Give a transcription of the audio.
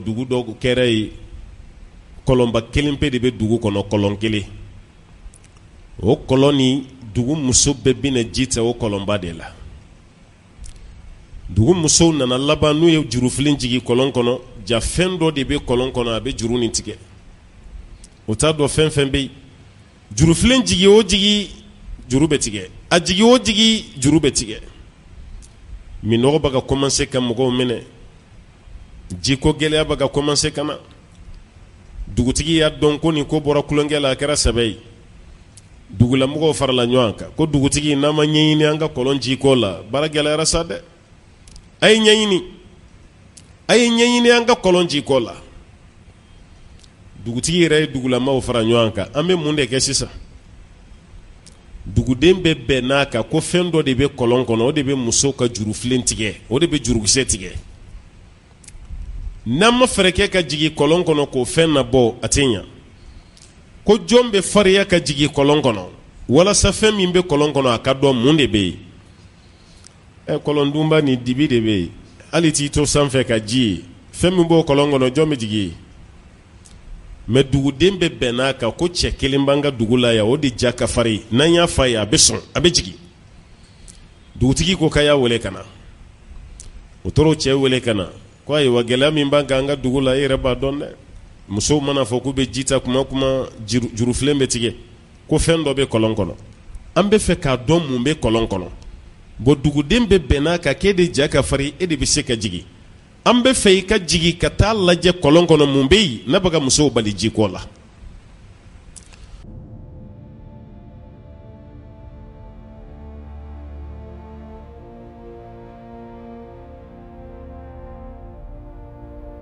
dugu dɔ kɛra yen kɔlɔnba kelen pe de bɛ dugu kɔnɔ kɔlɔn kelen o kɔlɔn nin dugu muso bɛɛ bɛ na ji ta o kɔlɔnba de la dugu musow nana laban n'u ye jurufilen jigin kɔlɔn kɔnɔ jaa fɛn dɔ de bɛ kɔlɔn kɔnɔ a bɛ juru nin tigɛ u t'a dɔn fɛn fɛn bɛ yen jurufilen jigin o jigin juru bɛ tigɛ a jigin o jigin juru bɛ tigɛ minnɔgɔ bɛ ka kɔmanse ka mɔgɔw minɛ jiko gɛlɛya bɛ ka commencer ka na, dugutigi y'a dɔn ko nin ko bɔra tulonkɛ la a kɛra sɛbɛ ye, dugulamɔgɔw farala ɲɔgɔn kan ko dugutigi n'an ma ɲɛɲini an ka kɔlɔn ji ko la baara gɛlɛyara sa dɛ, a ye ɲɛɲini, a ye ɲɛɲini an ka kɔlɔn ji ko la, dugutigi yɛrɛ ye dugulamɔgɔw fara ɲɔgɔn kan an bɛ mun de kɛ sisan? Duguden bɛɛ bɛnn'a kan ko fɛn dɔ de bɛ kɔlɔn kɔnɔ o de bɛ musow ka jurufilen tigɛ o de bɛ jurukisɛ tigɛ n'an ma fɛɛrɛ kɛ ka jigin kɔlɔn kɔnɔ k'o fɛn nabɔ a tɛ ɲɛ ko jɔn bɛ farinya ka jigin kɔlɔn kɔnɔ walasa fɛn min bɛ kɔlɔn kɔnɔ a ka dɔn mun de bɛ yen ɛ kɔlɔn dunba nin dibi de bɛ yen hali i t'i to sanfɛ ka ji ye fɛn min b'o kɔlɔn kɔnɔ jɔn bɛ jigin yen mɛ duguden bɛɛ bɛnn'a kan ko cɛ kelen b'an ka dugu la yan o de ja ka farin n'an y'a f'a ye a bɛ sɔn a bɛ jigin dugutigi ko k'a y'a wele ka na u taara cɛ wele ka na ko ayiwa gɛlɛya min b'an kan an ka dugu la e yɛrɛ b'a dɔn dɛ musow man'a fɔ k'u bɛ ji ta kuma kuma jurufilen bɛ tigɛ ko fɛn dɔ bɛ kɔlɔn kɔnɔ an bɛ fɛ k'a dɔn mun bɛ kɔlɔn kɔnɔ bɔn duguden bɛɛ bɛnn'a kan k'e de ja ka farin e de bɛ se ka jigin an bɛ fɛ i ka jigin ka taa lajɛ kɔlɔn kɔnɔ mun bɛ yen n'a bɛ ka musow bali jiko la